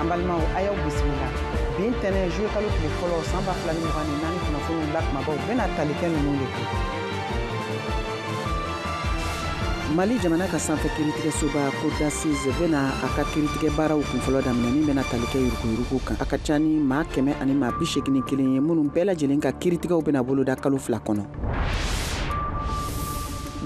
an balimaw a y'aw bisimila bi ntɛnɛn juye kalo tile fɔlɔ san ba fila ni mugan ni naani kunnafoniw la kumabaw bɛna tali kɛ ninnu de kan mali jamana ka sanfɛ kiritigɛsoba cour d'assises bena a ka kiritigɛ baaraw kunfɔlɔ daminɛ min bena tali kɛ yuruguyurugu kan a ka ca ni maa kɛmɛ ani maa bi segin ni kelen ye minnu bɛɛ lajɛlen ka kiritigɛw bena boloda kalo fila kɔnɔ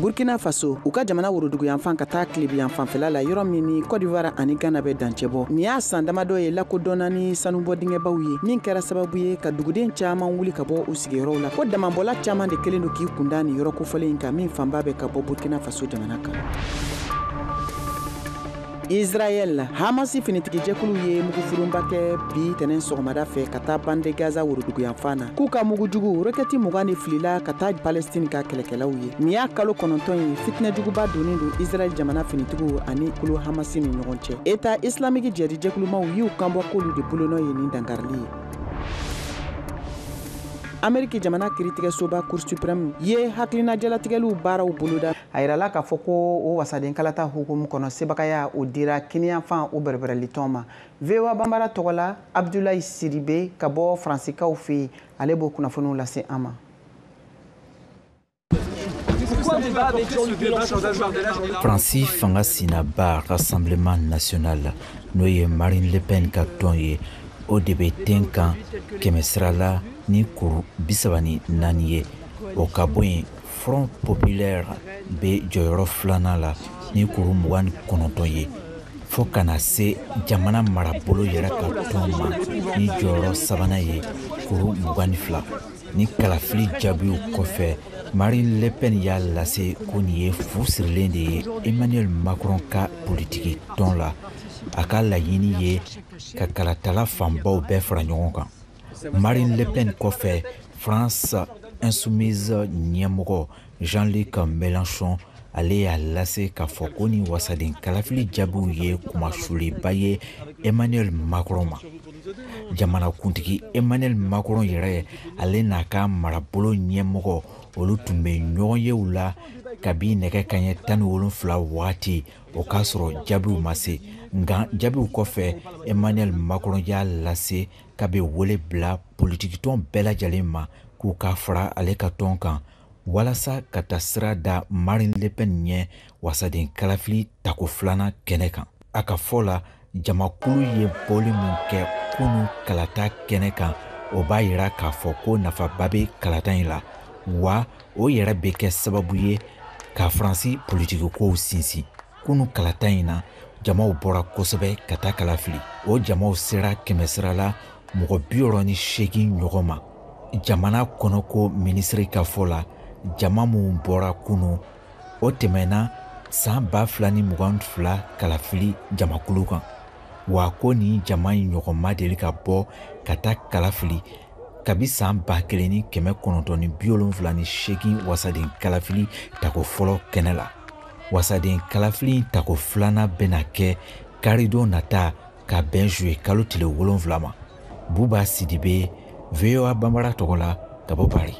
burkina faso u ka jamana woroduguyanfan ka taa tilebiyanfanfɛla la yɔrɔ min ni kɔdiwari ani gana bɛ dancɛbɔ nin y'a san damadɔ ye lakodɔnna ni sanubɔ dingɛbaw ye min kɛra sababu ye ka duguden caaman wuli ka bɔ u sigiyɔrɔw la ko damanbɔla caaman de kɛlen don k'i kunda nin yɔrɔ kofɔlen in kan min fanba bɛ ka bɔ burkina faso jamana kan Israɛl Hamasi finitigijɛkulu ye mugufurunba kɛ bi tɛnɛn sɔgɔmada fɛ ka taa bande Gaza woroduguyanfan na k'u ka mugujugu rɔkɛti mugan de filila ka taa Palestine ka kɛlɛkɛlaw ye. Nin y'a kalo kɔnɔntɔn ye fitinɛjuguba donnen don Israɛl jamana finitigiw ani kulu Hamasi ni ɲɔgɔn cɛ. Etat islamique jihadi jɛkulumaw y'u kanbɔ k'olu de bolonɔ ye nin dankarili ye. Ameriki jamana kiritigɛsoba Cour supreme ye hakilinajalatigɛliw baaraw boloda. a yirala k'a fɔ ko o wasaden kalata hukumu kɔnɔ sebagaya o dira kiniyanfan o bɛrɛbɛrɛlitɔn ma voa banbara tɔgɔ la abdulayi sidibe ka bɔ faransikaw fɛ yen ale b'o kunnafoniw lase an ma faransi fanga sinaba rassemblement national n'o ye marine le pen ka tɔn ye o de bɛ ten kan kɛmɛsira la ni kuru bisaba ni naani ye o ka bɔ yen front populaire bɛ jɔyɔrɔ filanan la ni kuru mugan ni kɔnɔntɔn ye fo ka na se jamana marabolo yɛrɛ ka tɔn ma ni jɔyɔrɔ sabanan ye kuru mugan ni fila ni kalafili jaabiw kɔfɛ marine le pen y'a lase ko nin ye fu sirilen de ye emmanuel macron ka politiki tɔn la a ka laɲini ye ka kalatala fanbaw bɛɛ fara ɲɔgɔn kan Marine Le Pen kɔfɛ France Insoumise ɲɛmɔgɔ Jean-Luc Mélenchon ale y'a lase k'a fɔ ko ni wasaden kalafili jaabiw ye kunmasuliba ye Emmanuel Macron ma. Jamanakuntigi Emmanuel Macron yɛrɛ ale n'a ka marabolo ɲɛmɔgɔ olu tun bɛ ɲɔgɔnyew la kabi nɛgɛ kaɲɛ tan ni wolonfila wagati o k'a sɔrɔ jaabiw ma se nka jaabiw kɔfɛ emmanuel macron y'a lase k'a bɛ wele bila politikitɔn bɛɛ lajɛlen ma k'u ka fara ale ka tɔn kan walasa ka taasira da Marine Le Pen ɲɛ wasaden kalafili tako filanan kɛnɛ kan. A ka fɔ la, jamakulu ye bɔli min kɛ kunu kalata kɛnɛ kan, o b'a yira k'a fɔ ko nafaba bɛ kalata in la, wa o yɛrɛ bɛ kɛ sababu ye ka Faransi politikikow sinsin. kunu kalata in na jamaw bɔra kosɛbɛ ka taa kalafili o jamaw sera kɛmɛsira la mɔgɔ bi wɔɔrɔ ni seegin ɲɔgɔn ma jamana kɔnɔko minisiri ka fɔ la jama min bɔra kunu o tɛmɛna saan ba fila ni mugan fila kalafili jamakulu kan wa ko nin jama in ɲɔgɔn ma deli ka bɔ ka taa kalafili kabi saan ba kelen ni kɛmɛ kɔnɔntɔn ni bi wolonfila ni seegin wasaden kalafili tako fɔlɔ kɛnɛ la wasaden kalafili tako filanan bɛna kɛ karidon nata ka bɛn zuye kalo tile wolonfila ma buba sidibe voa banbara tɔgɔ la ka bɔ pari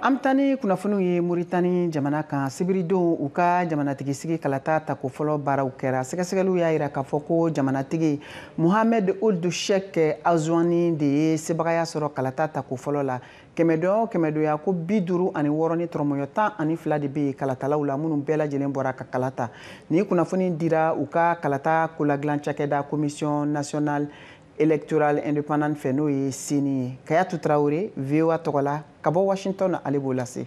an bɛ taa ni kunnafoniw ye moritani jamana kan sibiridon u ka jamanatigi sigi kalata tako fɔlɔ baaraw kɛra sɛgɛsɛgɛliw y'a jira k'a fɔ ko jamanatigi Mohamed Ould Cheikh Ghazouani de ye sebagaya sɔrɔ kalata tako fɔlɔ la kɛmɛdon o kɛmɛdonya ko bi duuru ani wɔɔrɔ ni tɔrɔmɔɲɔ tan ani fila de bɛ yen kalatalaw la minnu bɛɛ lajɛlen bɔra ka kala ta nin kunnafoni dira u ka kalata koladilan cakɛda commission nationale électorale indépendante fɛ n'o ye ceni ye kayatu traoré voa tɔgɔ la ka bɔ washington ale b'o lase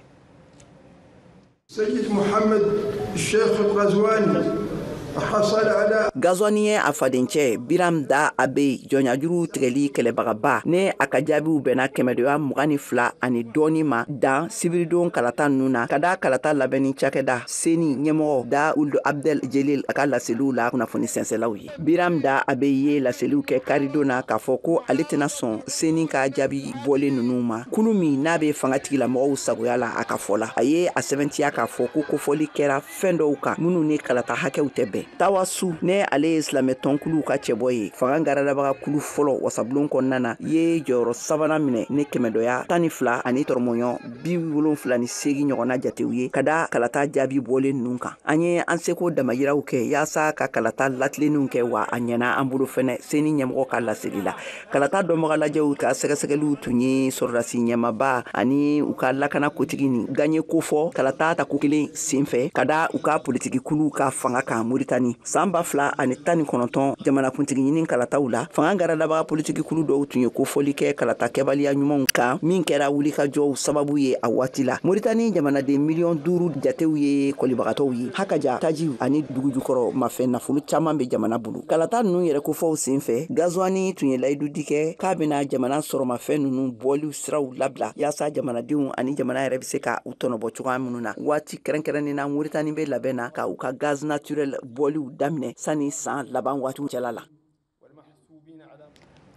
ghazouani ye a fadencɛ biram dah abeid jɔnyajuruw tigɛli kɛlɛbagaba ni a ka jaabiw bɛnna kɛmɛdoya mugan ni fila ani dɔɔni ma dan sibiridon kalata ninnu na ka da kalata labɛnni cakɛda ceni ɲɛmɔgɔ dah ould abdel jelil a ka laseliw la kunnafoni sɛnsɛlaw ye biram dah abeid ye laseliw kɛ karidon na k'a fɔ ko ale tɛna sɔn ceni ka jaabi bɔlen ninnu ma kulu min n'a bɛ fanga tigilamɔgɔw sagoya la a ka fɔ la a ye a sɛbɛntiya k'a fɔ ko kofɔli kɛra fɛn dɔw kan minnu ni kalata hakɛw tɛ bɛn tawassoul ni ale ye silamɛ tɔnkuluw ka cɛbɔ ye fanga garadabaga kulu fɔlɔ wasabulon kɔnɔna na ye jɔyɔrɔ sabanan minɛ ni kɛmɛdɔya tan ni fila ani tɔrɔmɔɲɔ bi wolonfila ni seegin ɲɔgɔnna jatew ye ka da kalata jaabi bɔlen ninnu kan an ye an seko damayiraw kɛ yaasa ka kalata latilenninw kɛ wa a ɲɛna an bolo fɛnɛ ceni ɲɛmɔgɔ ka laseli la kalata dɔnbagalajɛw ka sɛgɛsɛgɛliw tun ye sɔrɔdasi ɲɛmaba ani u ka lakana kotigi ni gaɲe kofɔ kalata tako kelen senfɛ ka da u ka politikikulu ka fanga kan moritani San ba fila ani tan ni kɔnɔntɔn jamanakuntigi ɲini kalataw la fanga garadabaga politikikulu dɔw tun ye kofɔli kɛ kalata kɛbaliya ɲumanw kan min kɛra wulikajɔw sababu ye a waati la moritani jamanaden miliyɔn duuru jatew ye kɔlibagatɔw ye ha ka ja tajiw ani dugujukɔrɔ mafɛn nafolo caman bɛ jamana bolo kalata ninnu yɛrɛ kofɔw sen fɛ ghazouani tun ye layidudi kɛ k'a bɛna jamana sɔrɔmafɛn ninnu bɔliw siraw labila yaasa jamanadenw ani jamana yɛrɛ bɛ se ka u tɔnɔbɔ cogoya minnu na waati Kɛrɛnkɛrɛnnen na Mauritanie bɛ labɛn na ka u ka gaz naturel bɔliw daminɛ sani san laban waati cɛla la.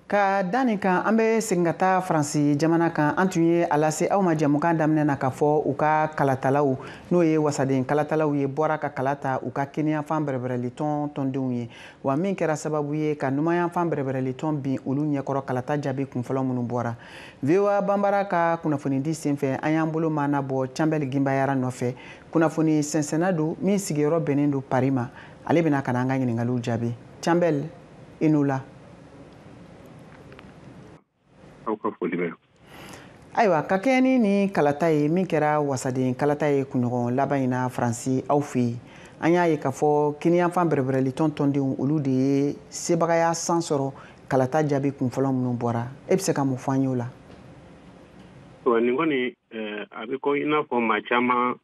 Ka da nin kan an bɛ segin ka taa faransi jamana kan an tun ye a lase aw ma jɛmukan daminɛ na ka fɔ u ka kalatalaw n'o ye wasaden kalatalaw ye bɔra ka kala ta u ka kiniyanfan bɛrɛbɛrɛli tɔn tɔndenw ye wa min kɛra sababu ye ka numanyanfan bɛrɛbɛrɛli tɔn bin olu ɲɛkɔrɔ kalata jaabi kunfɔlɔ minnu bɔra voa banbara ka kunnafonidi senfɛ an y'an bolo maanabɔ canbɛl ginbayara nɔfɛ kunnafoni sɛnsɛnna don min sigiyɔrɔ bɛnnen don pari ma ale bɛna ka na an ka ɲiningaliw jaabi canbɛl i ni wula ayiwa ka kɛɲɛ ni nin kalata ye min kɛra wasaden kalata ye kunɲɔgɔn laban in na faransi aw fɛ yen an y'a ye k'a fɔ kiniyanfan bɛrɛbɛrɛlitɔn tɔndenw olu de ye sebagaya san sɔrɔ kalata jaabi kun fɔlɔ minnu bɔra e bɛ se ka mun fɔ an y'o la nin kɔni eh, a bɛ ko i n'a fɔ maa caman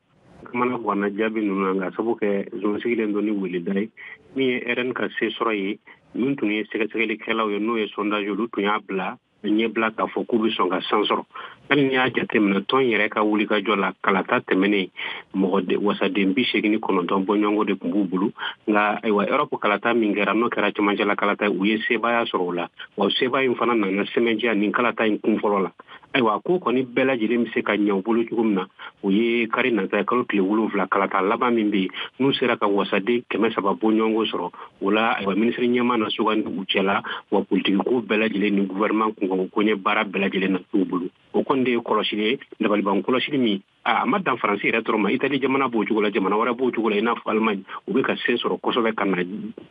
kamanagwanna jaabi ninnu na nka sabu kɛ zon sigilen don ni weleda ye min ye rn ka se sɔrɔ ye min tun ye sɛgɛsɛgɛlikɛlaw ye n'o ye sondage olu tun y'a bila ɲɛbila k'a fɔ k'u bɛ sɔn ka san sɔrɔ hali n'i y'a jateminɛ tɔn yɛrɛ ka wulikajɔ la kalata tɛmɛnen mɔgɔ wasaden bi segin ni kɔnɔntɔn bɔɲɔgɔnko de tun b'u bolo nka ayiwa erɔpu kalata min kɛra n'o kɛra camancɛla kalata ye u ye sebaaya sɔrɔ o la wa sebaaya in fana nana sɛmɛntiya nin kalata in kun fɔlɔ la ayiwa ko kɔni bɛɛ lajɛlen bɛ se ka ɲɛ u bolo cogo min na o ye kari nata kalo tile wolonwula kalata laban min bɛ yen n'u sera ka wasaden kɛmɛ saba bɔɲɔgɔnko sɔrɔ o la ayiwa minisiri ɲɛmaa na sugandi u cɛla wa politikiko bɛɛ lajɛlen ni gouvernement kunkanko koɲɛ baara bɛɛ lajɛlen na t'u bolo o kɔni de ye kɔlɔsili ye dabaliban kɔlɔsili min a ma dan faransi yɛrɛ dɔrɔn ma itali jamana b'o cogo la jamana wɛrɛ b'o cogo la i n'a fɔ allemagne u bɛ ka sen sɔrɔ kosɛbɛ ka na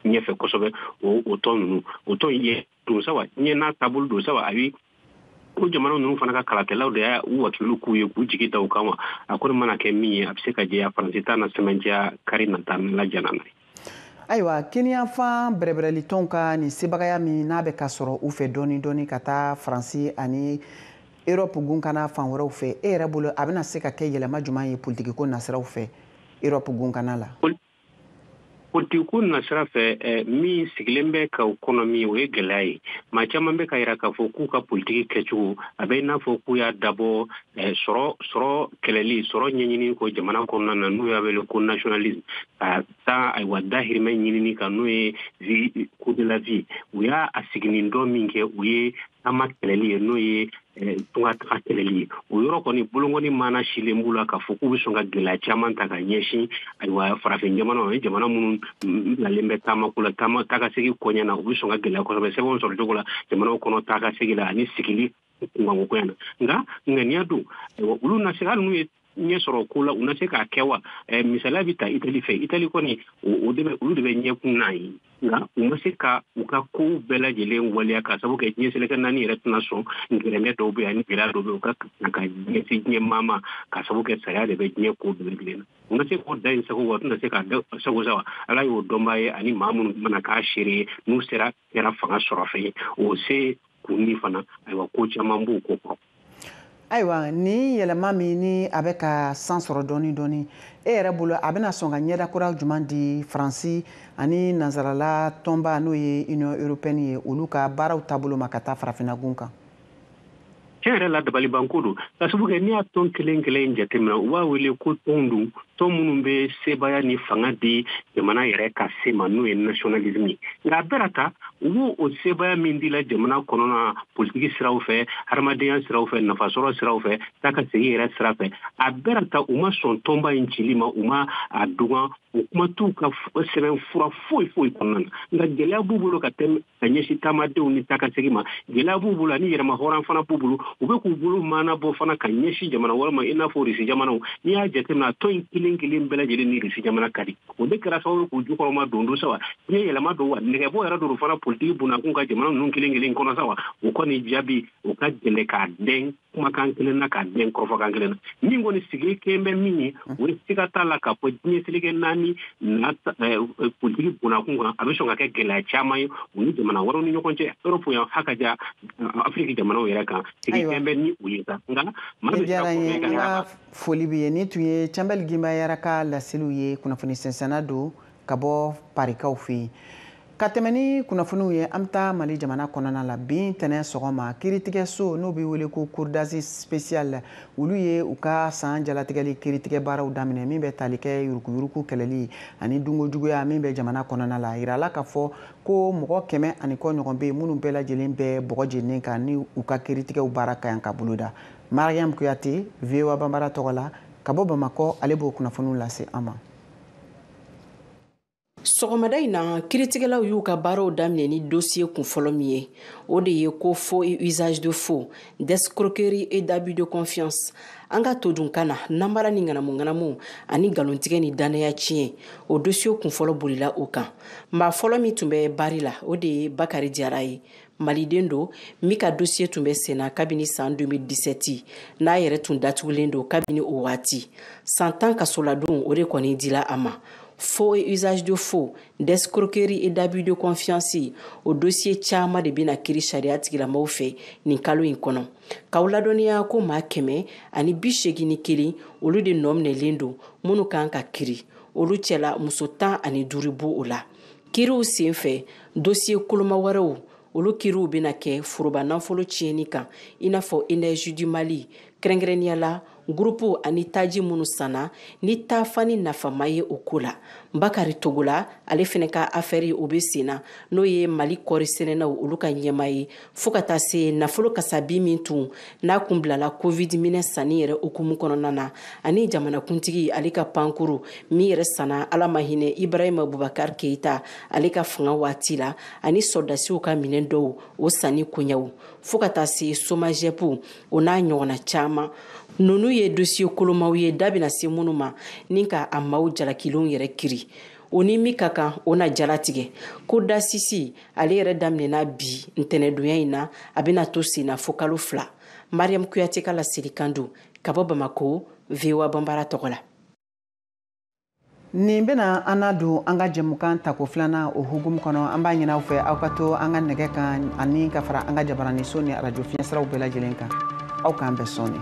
ɲɛfɛ kosɛbɛ o tɔn ninnu o tɔn ye don saba ɲɛ n'a taabolo don saba ayi ko jamana ninnu fana ka kalatalaw de y'a u wakilu k'u ye k'u jigi da u kan wa a kɔni mana kɛ min ye a bɛ se ka jɛya faransi ta na sɛmɛntiya kari nata la jana na ayiwa kiniyanfan bɛrɛbɛrɛlitɔnw ka nin sebagaya min n'a bɛ ka sɔrɔ u fɛ dɔɔni dɔɔni ka taa faransi ani erɔpu gun kanna fan wɛrɛw fɛ e yɛrɛ bolo a bɛna se ka kɛ yɛlɛma juman ye politikiko nasiraw fɛ erɔpu gun kanna la politikiko nasira fɛ eh, min sigilen bɛ ka o kɔnɔ min o ye gɛlɛya ye maa caman bɛ ka yira k'a fɔ k'u ka politiki kɛcogo a bɛ i n'a fɔ k'u y'a dabɔ eh, sɔrɔ sɔrɔ kɛlɛli sɔrɔ ɲɛɲini ko jamana kɔnɔna na n'u y'a wele ko nationalisme ka taa ayiwa dahirimɛ ɲinini kan n'o ye vie coût de la vie u y'a a siginin dɔ min kɛ o ye taama kɛlɛli ye n'o ye tunga taga kɛlɛli ye o yɔrɔ kɔni bolonkɔni mana sinnen b'u la k'a fɔ k'u bɛ sɔn ka gɛlɛya caman ta ka ɲɛsin ayiwa farafin jamana o ye jamana minnu bilalen bɛ taamako la taama taakasegin koɲɛ na u bɛ sɔn ka gɛlɛya kosɛbɛ sɛbɛnw sɔrɔ cogo la jamanaw kɔnɔ taakasegin la ani sigili kunkanko koɲɛ na nka ŋaniya don ayiwa olu na se hali n'u ye ɲɛ sɔrɔ ko la u na se k'a kɛ wa misaliya bɛ ta itali fɛ itali kɔni olu de bɛ ɲɛkun na yen nka u ma se ka u ka kow bɛɛ lajɛlen waleya ka sabu kɛ diɲɛ seleke naani yɛrɛ tɛna sɔn gɛrɛntɛ dɔw bɛ yen ani gɛlɛya dɔw bɛ u kan ka ɲɛsin diɲɛ maa ma ka sabu kɛ sariya de bɛ diɲɛ ko bɛɛ lajɛlen na u na se k'o da in sago wa u tɛna se k'a da sago sa wa ala y'o dɔnbaa ye ani maa minnu mana k'a seere ye n'u sera kɛra fanga sɔrɔ fɛ ye o se kun min fana ayiwa ko caman b'o ko kɔrɔ ayiwa nin yɛlɛma min ni a bɛ ka san sɔrɔ dɔɔni dɔɔni e yɛrɛ bolo a bɛna sɔn ka ɲɛda kura jumɛn di faransi ani nansarala tɔnba n'o ye union européenne ye olu ka baaraw taabolo ma ka taa farafinagun kan tiɲɛ yɛrɛ la dabalibanko don ka sabu kɛ n'i y'a tɔn kelen kelen jateminɛ u b'a wele ko tɔnw don tɔn minnu bɛ sebaaya ni fanga di jamana yɛrɛ ka se ma n'o ye nationalisme ye nka a bɛɛ n'a ta u b'o o sebaaya min dila jamana kɔnɔna politiki siraw fɛ hadamadenya siraw fɛ nafasɔrɔ siraw fɛ taa ka segin yɛrɛ sira fɛ a bɛɛ n'a ta u ma sɔn tɔnba in cili ma u ma a dogo o kuma t'u ka sɛbɛn fura foyi foyi kɔnɔna na nka gɛlɛya b'u bolo ka tɛmɛ ka ɲɛsin taamadenw ni taakasegin ma gɛlɛya b'u bolo ani yɛrɛmahɔrɔn fana b'u bolo u bɛ k'u bolo maana bɔ fana ka ɲɛsin jamana wɛrɛ ma i n'a fɔ risi jamanaw n'i y'a jateminɛ a tɔn in kelen kelen bɛɛ lajɛlen ni risi jamana ka di o de kɛra sababu k'u jukɔrɔmadondon sa wa diɲɛ yɛlɛma don wa nɛgɛbɔ yɛrɛ don fana politiki bonnakun kan jamana ninnu kelen kelen kɔnɔ sa wa o kɔni jaabi o ka gɛlɛ k'a dɛn kumakan kelen na k'a dɛn kɔrɔfɔkan kelen na min kɔni sigi kɛlen bɛ min ye o ye siga t'a la k'a fɔ diɲɛ seleke naani na eh, eh, politiki bonnakun kan a bɛ sɔn ka kɛ gɛlɛya caman ye u ni jamana wɛrɛw ni ɲɔgɔn cɛ erɔpu yan ha ka ja eh, afiriki jamanaw yɛrɛ kan sigi kɛlen bɛ ni o ye sa nka maa bɛ siga kɔfɛ ka y'a foli b'i ye nin tun ye cɛnbɛli ginbayara ka laseliw ye kunnafoni sɛnsɛnna don ka bɔ parikaw fɛ yen ka tɛmɛ ni kunnafoniw ye an bɛ taa mali jamana kɔnɔna la bi ntɛnɛn sɔgɔma kiritigɛso n'o bɛ wele ko cour d'assises spéciale olu ye u ka san jalatigɛli kiritigɛ baaraw daminɛ min bɛ tali kɛ yuruguyurugu kɛlɛli ani dunkojuguya min bɛ jamana kɔnɔna la a yirala k'a fɔ ko mɔgɔ kɛmɛ ani kɔ ɲɔgɔn bɛ yen minnu bɛɛ lajɛlen bɛ bɔgɔ jeninen kan ni u ka kiritigɛw baara ka kan ka boloda mariam kuyate voa banbara tɔgɔ la ka bɔ bamakɔ ale b'o kunnafoniw lase an ma sɔgɔmada in na kiritigɛlaw y'u ka baaraw daminɛ ni dosiye kun fɔlɔ min ye o de ye ko faux et usage de faux d'escroquerie et d'abus de confiance an ka todunkan na nanbara ni ŋanamuŋanamu ani nkalontigɛ ni dannaya tiɲɛ o dosiye kun fɔlɔ bolila o kan maa fɔlɔ min tun bɛ bari la o de ye bakari jara ye maliden don min ka dosiye tun bɛ senna kabini san 2017 n'a yɛrɛ tun datugulen don kabini o waati san tan kasoladon o de kɔni dila a ma faux et usage de faux d'escroquerie et d'abus de confiance o dosiye caman de bɛna kiri sariya tigilamɔgɔw fɛ nin kalo in kɔnɔ k'aw ladɔnniya ko maa kɛmɛ ani bi seegin ni kelen olu de nɔ minɛlen don minnu kan ka kiri olu cɛla muso tan ani duuru b'o o la kiriw sen fɛ dosiye koloma wɛrɛw olu kiriw bɛna kɛ foroba nafolo tiɲɛni kan i n'a fɔ energie du mali kɛrɛnkɛrɛnnenya la gurupuw ani taji minnu sanna ni taafani nafama ye o ko la bakari togola ale fɛnɛ ka afɛri o bɛ senna n'o ye mali kɔɔri sɛnɛnaw olu ka ɲɛmaa ye fo ka taa se nafolo kasabi min tun n'a kun bilala covid minɛn sanni yɛrɛ hukumu kɔnɔna na ani jamanakuntigi ale ka pankurun min yɛrɛ sanna ala ma hinɛ ibrahima bubakar keita ale ka fanga waati la ani sɔrɔdasiw ka minɛn dɔw o sanni koɲɛw fo ka taa se somagep o n'a ɲɔgɔnna caaman nunu ye dosiye kolomaw ye da bɛna se minnu ma ni ka a maaw jalakilenw yɛrɛ kiri o ni min ka kan o na jalatigɛ cour d'assises ale yɛrɛ daminɛna bi ntɛnɛdonya in na a bɛna to senna fo kalo fila mariam kuyate ka laselikan don ka bɔ bamako voa banbara tɔgɔ la nin bɛna an na don an ka jɛmukan tako filanan o hukumu kɔnɔ an b'a ɲin'aw fɛ aw ka to an ka nɛgɛ kan ani ka fara an ka jabaraniso ni arajo fiɲɛsiraw bɛɛ lajɛlen kan aw k'an bɛn sɔɔni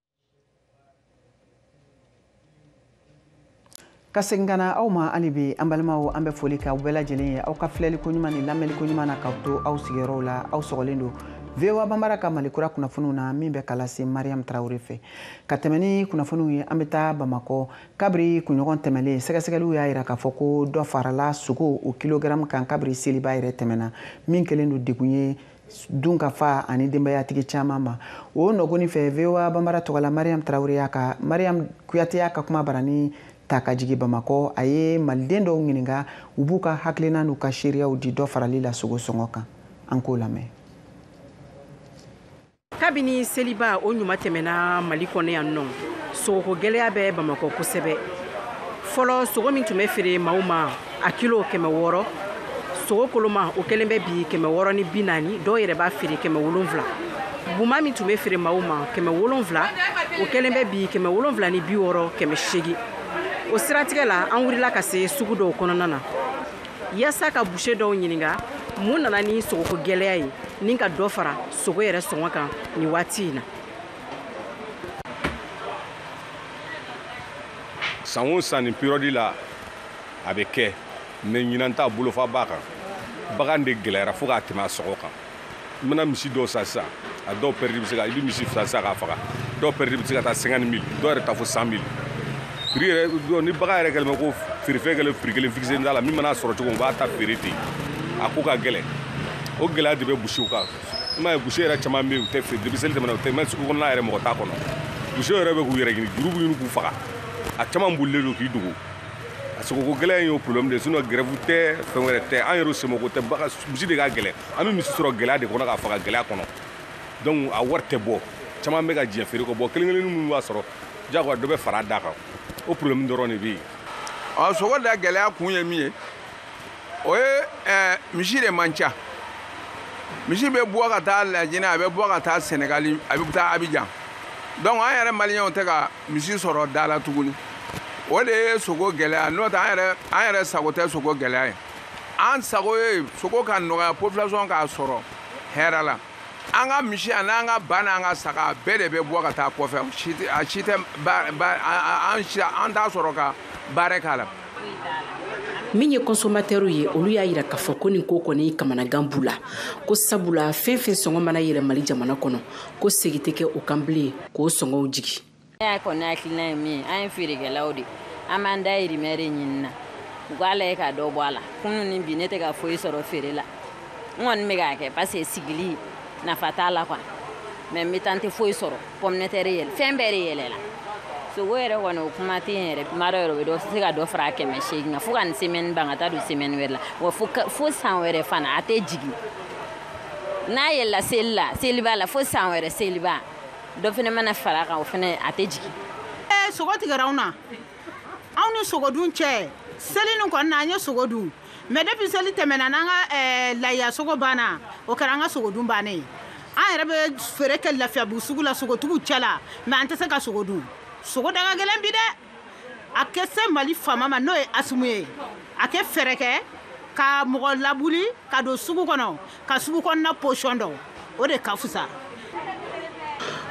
ka segin ka na aw ma hali bi an balimaw an bɛ foli kɛ aw bɛɛ lajɛlen ye aw ka filɛli ko ɲuman ni lamɛnni ko ɲuman na k'aw to aw sigiyɔrɔw la aw sɔgɔlen don voa banbara ka mali kura kunnafoniw na min bɛ ka lase mariam tarawele fɛ ka tɛmɛ ni kunnafoniw ye an bɛ taa bamakɔ kabiri kunɲɔgɔn tɛmɛlen sɛgɛsɛgɛliw y'a yira k'a fɔ ko dɔ farala sogo o kilogaramu kan kabiri seliba yɛrɛ tɛmɛna min kɛlen don degun ye dunkafa ani denbayatigi caman ma o nɔ kɔni fɛ voa banbara tɔgɔ la mariam tarawele y'a ka mariam kuyate y'a ka kumabarani ta ka jigin bamakɔ a ye maliden dɔw ɲininka u b'u ka hakilina n'u ka seereyaw di dɔ farali la sogo sɔngɔ kan an k'o lamɛn kabini seliba o ɲuman tɛmɛna mali kɔnɔ yan nɔ sogoko gɛlɛya bɛ bamakɔ kosɛbɛ fɔlɔ sogo min tun bɛ feere maaw ma a kilo kɛmɛ wɔɔrɔ sogo koloma o kɛlen bɛ bi kɛmɛ wɔɔrɔ ni bi naani dɔw yɛrɛ b'a feere kɛmɛ wolonfila buma min tun bɛ feere maaw ma kɛmɛ wolonfila o kɛlen bɛ bi kɛmɛ wolonfila ni bi wɔɔrɔ kɛmɛ seegin o siratigɛ la an wulila ka se sugu dɔw kɔnɔna na yaasa ka buse dɔw ɲininka mun nana ni sogoko gɛlɛya ye ni ka dɔ fara sogo yɛrɛ sɔngɔ kan nin waati in na san o san nin période la a bɛ kɛ mais ɲinan ta bolofa b'a kan bagan de gɛlɛyara fo ka tɛmɛ a sogo kan i mana misi dɔw san sisan a dɔw perte bɛ se ka i bɛ misi fila san k'a faga dɔw perte bɛ se ka taa cinquante mille dɔw yɛrɛ taa fo cent mille prix yɛrɛ ni bagan yɛrɛ kɛlen bɛ ko feerefɛn kɛlen prix kelen fixe t'a la min mana sɔrɔ cogo min u b'a ta feere ten a ko ka gɛlɛn o gɛlɛya de bɛ boucherw kan i m'a ye boucher yɛrɛ caman bɛ yen u tɛ feere depuis seli tɛmɛna u tɛ même sugu kɔnɔna yɛrɛ mɔgɔ t'a kɔnɔ boucher yɛrɛ bɛ k'u yɛrɛ ɲini juru b'u ɲini k'u faga a caman bolilen don k'i dogo a sogoko gɛlɛya in y'o problème de sinon grève tɛ fɛn wɛrɛ tɛ an yɛrɛ semoko tɛ bagan misi de ka gɛlɛn an bɛ misi sɔrɔ gɛlɛya de kɔnɔ k'a faga gɛlɛya kɔnɔ donc a wari tɛ bɔ caman bɛ ka diɲɛ feere kɔ bɔ kelen kelenni minnu b'a sɔrɔ jagoya dɔ bɛ fara a da kan o problème dɔrɔn de bɛ yen ɔ sogo da gɛlɛya kun ye min ye o ye eh, misi de man ca misi bɛ bɔ ka taa lajinɛ a bɛ bɔ ka taa sɛnɛgali a bɛ taa abijan donc an yɛrɛ maliyɛnw tɛ ka misi sɔrɔ da la tuguni o de ye sogo gɛlɛya n'o tɛ an yɛrɛ an yɛrɛ sago tɛ sogo gɛlɛya ye an sago ye sogo ka nɔgɔya population k'a sɔrɔ hɛrɛ la an ka misi ani an ka ba n'an ka saga bɛɛ de bɛ bɔ ka taa kɔfɛ a si tɛ an t'a sɔrɔ ka baara k'a la min ye consommateurw ye olu y'a yira k'a fɔ ko nin ko kɔni kamanagan b'u la ko sabula fɛn fɛn sɔngɔ mana yɛlɛ mali jamana kɔnɔ ko segi tɛ kɛ o kan bilen k'o sɔngɔw jigin y'a kɔni hakilina ye min ye an ye feerekɛlaw de an b'an dahirimɛ de ɲini na u k'a lajɛ ka dɔ bɔ a la kunu ni bi ne tɛ ka foyi sɔrɔ feere la n kɔni bɛ k'a kɛ parce que sigili nafa t'a la quoi mais n bɛ taa n tɛ foyi sɔrɔ pomme de terre yɛlɛ fɛn bɛɛ de yɛlɛla sogo yɛrɛ kɔni o kuma tɛ yen yɛrɛ kuma dɔ yɛrɛ o bɛ se ka dɔ fara a kɛmɛ seegin kan fo ka nin semaine ban ka taa don semaine wɛrɛ la wa fo san wɛrɛ fana a tɛ jigin n'a yɛlɛla seli la seliba la fo san wɛrɛ seliba dɔ fana mana fara a kan o fana a tɛ jigin. ɛɛ sogo tigɛra anw na anw ni sogodun cɛ seli nin kɔni na an ye sogo dun mais depuis seli tɛmɛna n'an ka ɛɛ layiya sogo banna o kɛra an ka sogodun bannen ye an yɛrɛ bɛ feere kɛ lafiyabugu sugu la sogotigiw cɛ la mais an tɛ se ka sogo dun sogo da ka gɛlɛn bi dɛ. a kɛ se mali faama ma n'o ye asimi ye a kɛ fɛɛrɛ kɛ ka mɔgɔ lawuli ka don sugu kɔnɔ ka sugu kɔnɔna position dɔn o de ka fusa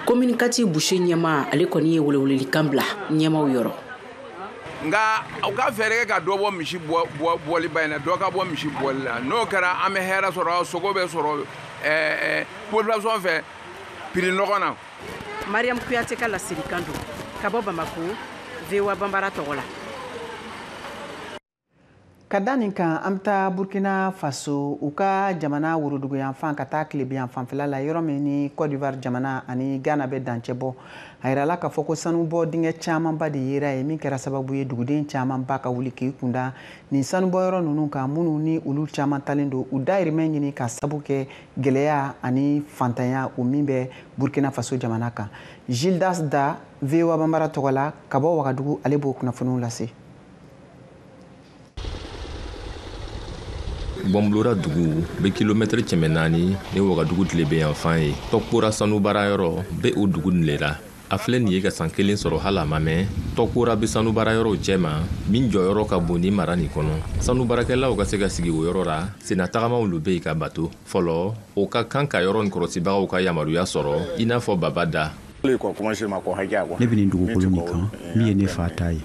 kominikati boucher ɲɛmaa ale kɔni ye welewelelikan bila ɲɛmaaw yɔrɔ nka u ka fɛɛrɛ kɛ ka dɔ bɔ misi bɔli ba in na dɔ ka bɔ misi bɔli la n'o kɛra an bɛ hɛrɛ sɔrɔ sogo bɛ sɔrɔ eh, eh, population fɛ prix nɔgɔn na mariam kuyate ka laselikan don ka bɔ bamako voa banbara tɔgɔ la ka da nin kan an bɛ taa burkina faso u ka jamana woroduguyanfan ka taa tilebinyanfan fɛla la yɔrɔ min ni cote d'ivoire jamana ani ghana bɛ dancɛ bɔ a yirala k'a fɔ ko sanubɔ dingɛ camanba de yera yen min kɛra sababu ye duguden camanba ka wuli k'i kunda nin sanubɔyɔrɔ ninnu kan minnu ni olu caman taalen don u dayirimɛ ɲini ka sabu kɛ gɛlɛya ani fantanya o min bɛ burkina faso jamana kan gildas da voa banbara tɔgɔ la ka bɔ wagadugu ale b'o kunnafoniw lase gbɔnbulora dugu be kilomɛtɛrɛ cɛmɛ naani ni wagadugu tilebenyanfan ye tɔkpora sanubaara yɔrɔ be o dugu nin le ra a filɛ nin ye ka san kelen sɔrɔ hali a ma mɛn tɔkpora bɛ sanu baara yɔrɔw cɛma min jɔyɔrɔ ka bon ni mara nin kɔnɔ sanu baarakɛlaw ka se ka sigi o yɔrɔ ra senna tagamaw lo be yen ka bato fɔlɔ o ka kan ka yɔrɔ nin kɔrɔsibagaw ka yamaruya sɔrɔ i n'a fɔ baba da ne bɛ nin dugukolo nin kan min ye ne fa ta ye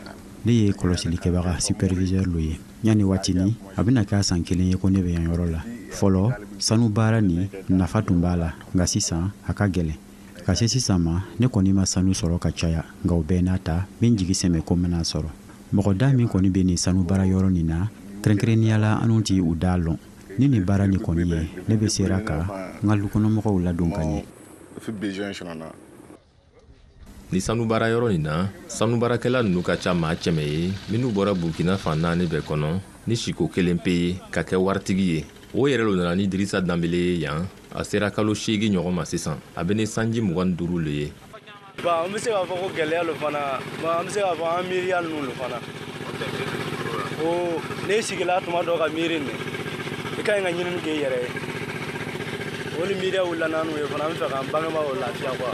ne ye kɔlɔsilikɛbaga superviseur lo ye yanni waatini a bɛna kɛ a san kelen ye ko ne bɛ yan yɔrɔ la fɔlɔ sanu baara nin nafa tun b'a la nka sisan a ka gɛlɛn ka se sisan ma ne kɔni ma sanu sɔrɔ ka caya nka o bɛɛ n'a ta n be n jigi sɛmɛ ko n bena a sɔrɔ mɔgɔ da min kɔni be nin sanu baara yɔrɔ nin na kɛrɛnkɛrɛnnenya la anw ti u daa lɔn ni nin baara nin kɔni ye ne be sera ka n ka lukɔnɔmɔgɔw ladon ka ɲɛ ni sanu baara yɔrɔ nin na sanu baarakɛla nunu ka ca maa cɛmɛ ye minnu bɔra burkina fan naani bɛɛ kɔnɔ ni siko kelen pe ye ka kɛ waritigi ye o yɛrɛ lo nana ni dirisa danbele ye yan a sera kalo seegi ɲɔgɔn ma sisan a bɛ ni sanji mugan ni duuru le ye ba an bɛ se k'a fɔ ko gɛlɛya lo fana ba an bɛ se k'a fɔ an miiriya ninnu lo fana ko ne sigila tuma dɔ ka miiri nin i ka ɲi ka ɲinini k'i yɛrɛ ye o ni miiriya wulila n'anw ye fana an bɛ fɛ k'an bangebaaw lafiya quoi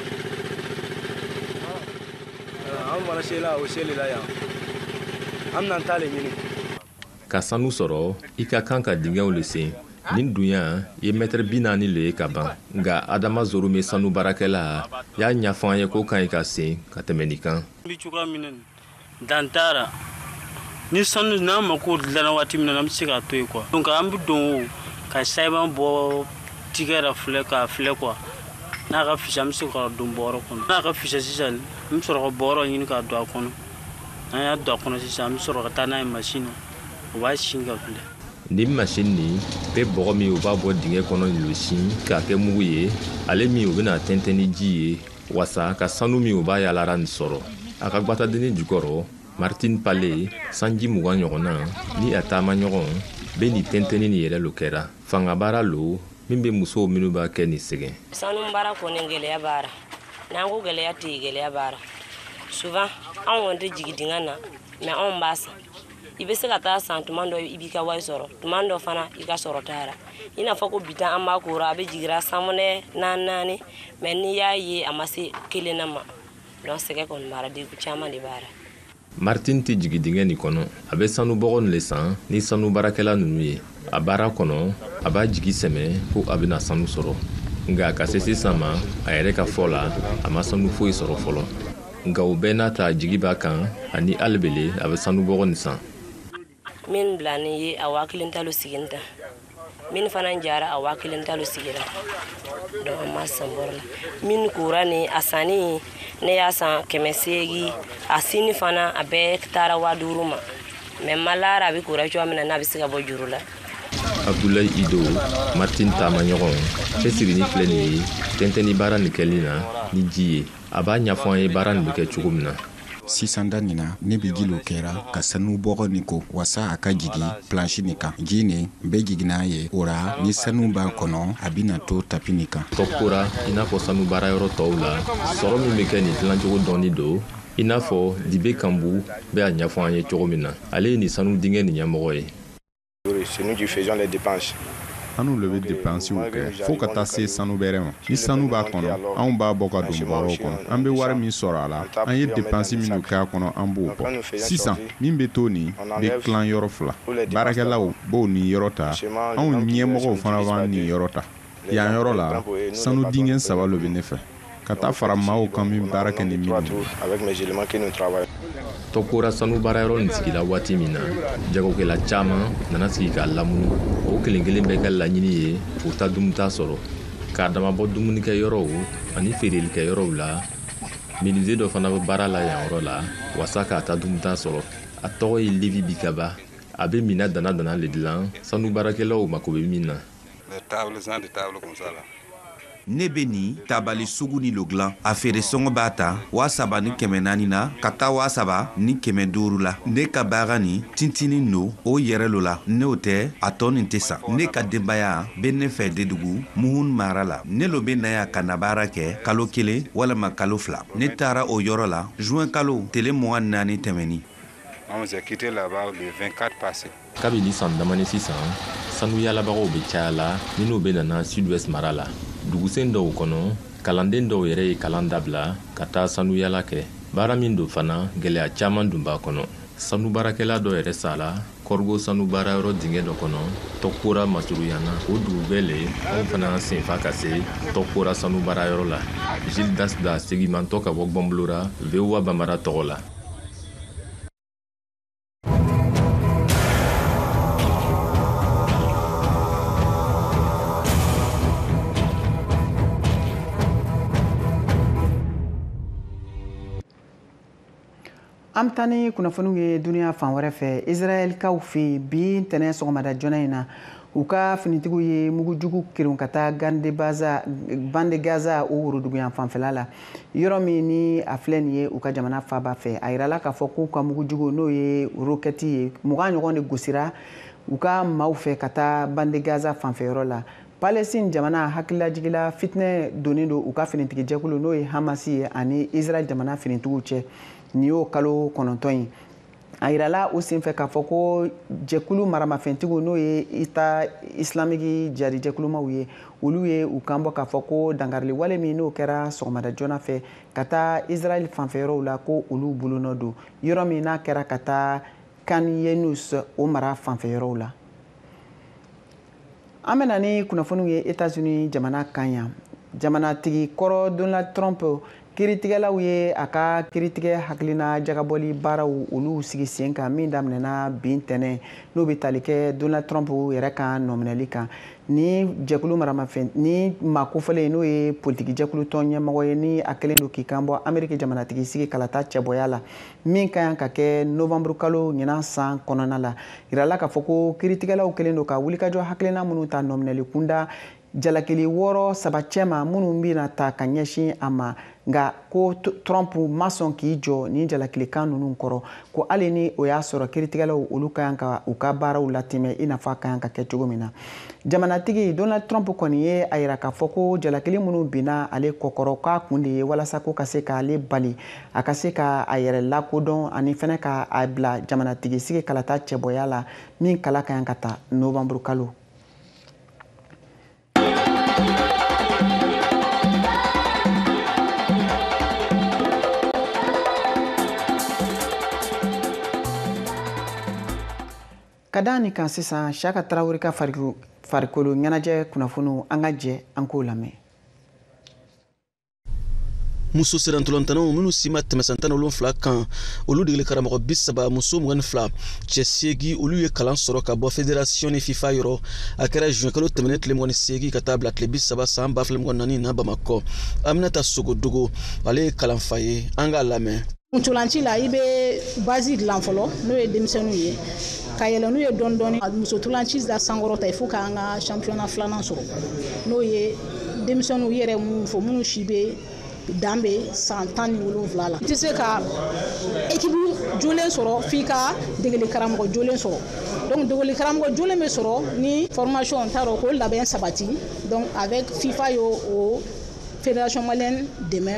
an fana sela o seli la yan an bɛna an ta le ɲini ka sanu sɔrɔ i ka kan ka dingɛw le sen nin dunya ye mɛtɛrɛ bi naani le ye ka ban nka adama zorume sanu baarakɛla y'a ɲafɔ an ye k'o ka ɲi ka sen ka tɛmɛ nin kan dan t'a ra ni sanu n'an mako dilanna waati min na an bɛ se k'a to yen quoi donc an bɛ don o ka sayiban bɔ tigɛ la filɛ k'a filɛ quoi n'a ka fisa an bɛ se ka don bɔrɔ kɔnɔ n'a ka fisa sisan an bɛ sɔrɔ ka bɔrɔ ɲini k'a don a kɔnɔ an y'a don a kɔnɔ sisan an bɛ sɔrɔ ka taa n'a ye masin na o b'a sin ka filɛ nin masin nin bɛ bɔgɔ min u b'a bɔ dingɛ kɔnɔ nin lo sin k'a kɛ mugu ye ale min u bɛna tɛntɛn ni ji ye waasa ka sanu min u b'a yaalara nin sɔrɔ a ka gwatadennin jukɔrɔ martin pale sanji mugan ɲɔgɔnna ni a taama ɲɔgɔn bɛ nin tɛntɛnni nin yɛrɛ lo kɛra fangabaara lo min bɛ musow minnu b'a kɛ ni sɛgɛn sanu baara kɔni gɛlɛya b'a ra n'an ko gɛlɛya tɛ yen gɛlɛya b'a ra souvent anw kɔni tɛ jigin dingɛ na mais anw b'a san i bɛ se ka taa san tuma dɔ i b'i ka wari sɔrɔ tuma dɔ fana i ka sɔrɔ t'a ra i n'a fɔ ko bi an b'a ko ra a bɛ jigira sanwɛlɛ naani naani mais n'i y'a ye a ma se kelen na ma donc sɛgɛn kɔni b'a ra degun caman de b'a ra martin tɛ jigi dingɛ nin kɔnɔ a bɛ sanu bɔgɔ nin le san ni sanu baarakɛla ninnu ye a baara kɔnɔ a b'a jigi sɛmɛ ko a bɛna sanu sɔrɔ nka ka se sisan ma a yɛrɛ ka fɔ la a ma sanu foyi sɔrɔ fɔlɔ nka o bɛɛ n'a ta jigi b'a kan ani ali bele a bɛ sanu bɔgɔ nin san min bilanin ye a waa kelen ta lo sigini ta min fana jara a waa kelen ta lo sigira donc an ma san bɔrɔ la min kora ni a sanni ne y'a san kɛmɛ seegi a sini fana a bɛɛ taara waa duuru ma mais m'a lɔn a bɛ kora cogoya min na n'a bɛ se ka bɔ juru la abdulayi ido martin taama ɲɔgɔn cɛsirinin filɛ nin ye tɛntɛnni baara nin kɛli na ni ji ye a b'a ɲɛfɔ an ye baara nin bɛ kɛ cogo min na sisan da nin na ne bɛ ji lo kɛra ka sanu bɔgɔ nin ko wasa a ka jigi planshi nin kan ji nin bɛ jigi n'a ye o ra ni sanu b'a kɔnɔ a bɛna to tapi nin kan tɔkora i n'a fɔ sanu baara yɔrɔ tɔw la sɔrɔ min bɛ kɛ nin tilancogo dɔnnin don i n'a fɔ dibe kanbu bɛ a ɲɛfɔ an ye cogo min na ale ye nin sanu dingɛ nin ɲɛmɔgɔ ye anw le bɛ depansiw kɛ fo ka taa se sanu bɛrɛ ma ni sanu b'a kɔnɔ anw b'a bɔ ka don bɔrɔw kɔnɔ an bɛ wari min sɔrɔ a la an ye depansi minnu kɛ a kɔnɔ an b'o bɔ sisan min bɛ to nin bɛ tilan yɔrɔ fila baarakɛlaw b'o niyɔrɔ ta anw ɲɛmɔgɔw fana b'an niyɔrɔ ta yan yɔrɔ la sanu dingɛn saba lo bɛ ne fɛ ka taa fara maaw kan min baara kɛ ni minnu tɔkora sanu baarayɔrɔ nin sigira waati min na jagokɛla caman nana sigi k'a lamunu o kelen kelen bɛɛ ka laɲini ye k'u ta dumuta sɔrɔ k'a damabɔ dumunikɛyɔrɔw ani feerelikɛyɔrɔw la menuisier dɔ fana bɛ baara la yan yɔrɔ la wasa k'a ta dumuta sɔrɔ a tɔgɔ ye levi bikaba a bɛ minan dana dana le dilan sanu baarakɛlaw mako bɛ min na ne bɛ nin tabali sugu nin lo dilan a feere sɔngɔ b'a ta waa saba ni kɛmɛ naani na ka taa waa saba ni kɛmɛ duuru la ne ka baara nin tintinin lo o yɛrɛ lo la n'o tɛ a tɔ nin tɛ san ne ka denbaya bɛ ne fɛ dedugu muhun mara la ne lo bɛ na yan ka na baara kɛ kalo kelen walima kalo fila ne taara o yɔrɔ la juin kalo tele mugan naani tɛmɛnin kabini san damani sisan sanuyalabagaw bɛ caya la minnu bɛ nana sud-ouest mara la dugusen dɔw kɔnɔ kalanden dɔw yɛrɛ ye kalan dabila ka taa sanuyala kɛ baara min don fana gɛlɛya caman dun b'a kɔnɔ sanubaarakɛla dɔ yɛrɛ sala kɔrɔgo sanubaarayɔrɔ dingɛ dɔ kɔnɔ tɔkora masuruyana o dugu bɛɛ le anw fana senfa ka se tɔkora sanubaarayɔrɔ la gildas da segimantɔ ka bɔ gbɔnbolora voa banbara tɔgɔ la an bɛ taa ni kunnafoniw ye duniya fan wɛrɛ fɛ israɛlkaw fɛ bi ntɛnɛn sɔgɔmada joona in na u ka finitigiw ye mugujugu kerun ka taa bande gaza o woroduguyan fanfɛla la yɔrɔ min ni a filɛ nin ye u ka jamana faaba fɛ a yirala k'a fɔ k'u ka mugujugu n'o ye rokɛti ye mugan ɲɔgɔn de gosira u ka maaw fɛ ka taa bande gaza fanfɛyɔrɔ la palestine jamana hakililajigi la fitinɛ donnen don u ka finitigijɛkulu n'o ye hamasi ye ani israɛl jamana finitigiw cɛ nin y'o kalo kɔnɔntɔn ye a yirala o senfɛ k'a fɔ ko jɛkulu maramafɛntigiw n'o ye eta isilamiki jihadi jɛkulumaw ye olu ye u kan bɔ k'a fɔ ko dankariliwale min n'o kɛra sɔgɔmada joona fɛ ka taa israɛl fanfɛyɔrɔw la ko olu bolonɔ don yɔrɔ min n'a kɛra ka taa khan younis o mara fanfɛyɔrɔw la an bɛna ni kunnafoniw ye etats-unis jamana kan yan jamanatigi kɔrɔ donald trump kiritigɛlaw ye a ka kiritigɛ hakilina jagabɔli baaraw olu sigi sen kan min daminɛna bi ntɛnɛn n'o bɛ tali kɛ donald trump yɛrɛ ka nɔminɛli kan ni jɛkulu maramafɛn ni maa kofɔlen n'o ye politiki jɛkulu tɔn ɲɛmɔgɔ ye ni a kɛlen don k'i kan bɔ ameriki jamanatigi sigi kalata cɛbɔya la min ka kan ka kɛ novanburukalo ɲinan san kɔnɔna la a yirala k'a fɔ ko kiritigɛlaw kɛlen don ka wulikajɔ hakilina minnu ta nɔminɛli kunda jalakili wɔɔrɔ saba cɛma minnu bɛna ta ka ɲɛsin a ma nka ko trump ma sɔn k'i jɔ nin jalakilikan ninnu kɔrɔ ko hali ni o y'a sɔrɔ kiritigɛlaw olu ka kan ka u ka baaraw latɛmɛ i n'a fɔ a ka kan ka kɛ cogo min na jamanatigi donald trump kɔni ye a yira k'a fɔ ko jalakili minnu binna ale kɔkɔrɔ k'a kun de ye walasa k'u ka se k'ale bali a ka se ka a yɛrɛ lakodɔn ani fɛnɛ ka a bila jamanatigisigi kalata cɛbɔya la min kala ka kan ka ta novanburu kalo ka da nin kan sisan siyaka traoré ka farikolo ɲɛnajɛ kunnafoniw an ka jɛ an k'o lamɛn muso sirantolantanaw minnu si ma tɛmɛ san tan ni wolonfila kan olu degeli karamɔgɔ bi saba muso mugan ni fila cɛ seegi olu ye kalan sɔrɔ ka bɔ federasiyɔn ni fifa yɔrɔ a kɛra juin kalo tɛmɛnen tile mugan ni seegi ka taa bila tile bi saba san ba fila mugan ni naani na bamakɔ aminata sogodogo ale ye kalanfa ye an k'a lamɛn ntolanci la i bɛ base dilan fɔlɔ n'o ye denmisɛnninw ye ka yɛlɛ n'u ye dɔɔni dɔɔni muso ntolanci la sankɔrɔta il faut k'an ka championnat filanan sɔrɔ n'o ye denmisɛnninw yɛrɛ minnu fɔ minnu si bɛ dan bɛ san tan ni wolonfila la i tɛ se ka équipe jolen sɔrɔ f'i ka degeli karamɔgɔ jolen sɔrɔ donc degeli karamɔgɔ jolen bɛ sɔrɔ ni formation t'a dɔn k'o labɛn sabati donc avec fifa y'o fédération malienne dɛmɛ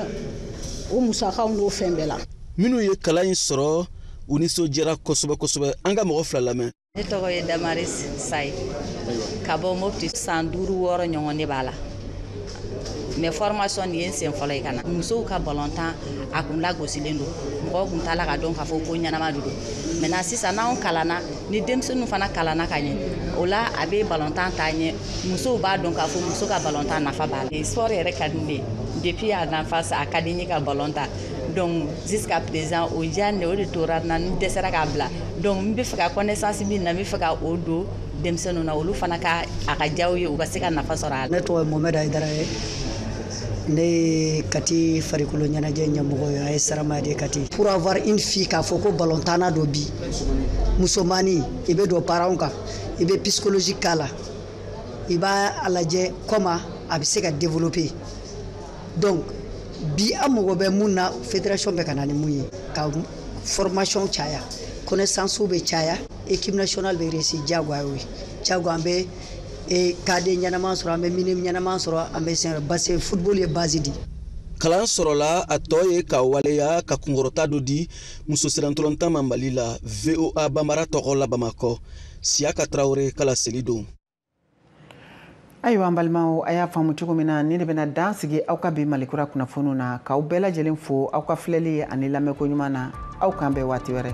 o musakaw n'o fɛn bɛɛ la minnu ye kalan in sɔrɔ u nisɔndiyara kosɛbɛ kosɛbɛ an ka mɔgɔ fila lamɛn ne tɔgɔ ye damaris sayi ka bɔ mopti san duuru wɔɔrɔ ɲɔgɔn ne b'a la mais formation nin ye n sen fɔlɔ ye ka na musow ka balontan a kun lagosilen don mɔgɔw kun t'a la ka dɔn k'a fɔ ko ɲɛnama de don maintenant sisan n'anw kalanna ni denmisɛnninw fana kalanna ka ɲɛ o la a bɛ balontan taa ɲɛ musow b'a dɔn k'a fɔ muso ka balontan nafa b'a la sport yɛrɛ ka di ne ye depuis à l'enfance a ka di n ye ka balon tan donc jusqu'à présent o diyanye o de tora n na n dɛsɛra k'a bila donc n bɛ fɛ ka connaissance min bɛ n na n bɛ fɛ ka o don denmisɛnninw na olu fana ka a ka diya u ye u ka se ka nafa sɔrɔ a la. ne tɔgɔ ye mohamed ayidara ye ne ye kati farikolo ɲɛnajɛ ɲɛmɔgɔ ye as saramaya de kati. pour avoir une fille k'a fɔ ko balontanna don bi musomani i bɛ don parents kan i bɛ psychologie k'a la i b'a a lajɛ comment a bɛ se ka développer donc bi an mago bɛ mun na fédération bɛ ka na ni mun ye ka formation caya connaissance bɛ caya équipe nationale bɛ réussir diyagoya y'o ye diyagoya an bɛ eh, cadet ɲɛnama sɔrɔ an bɛ minime ɲɛnama sɔrɔ an bɛ senior parce que football ye base di kalan sɔrɔla a tɔ ye ka waleya ka kunkɔrɔta dɔ di muso sirantolontan ma mali la voa banbara tɔgɔ la bamakɔ siyaka tarawele ka laseli don ayiwa an balimaw a y'a faamu cogo min na nin de bɛna dan sigi aw ka bi malikura kunnafoniw na k'aw bɛɛ lajɛlen fo aw ka filɛli ani lamɛnko ɲuman na aw k'an bɛn waati wɛrɛ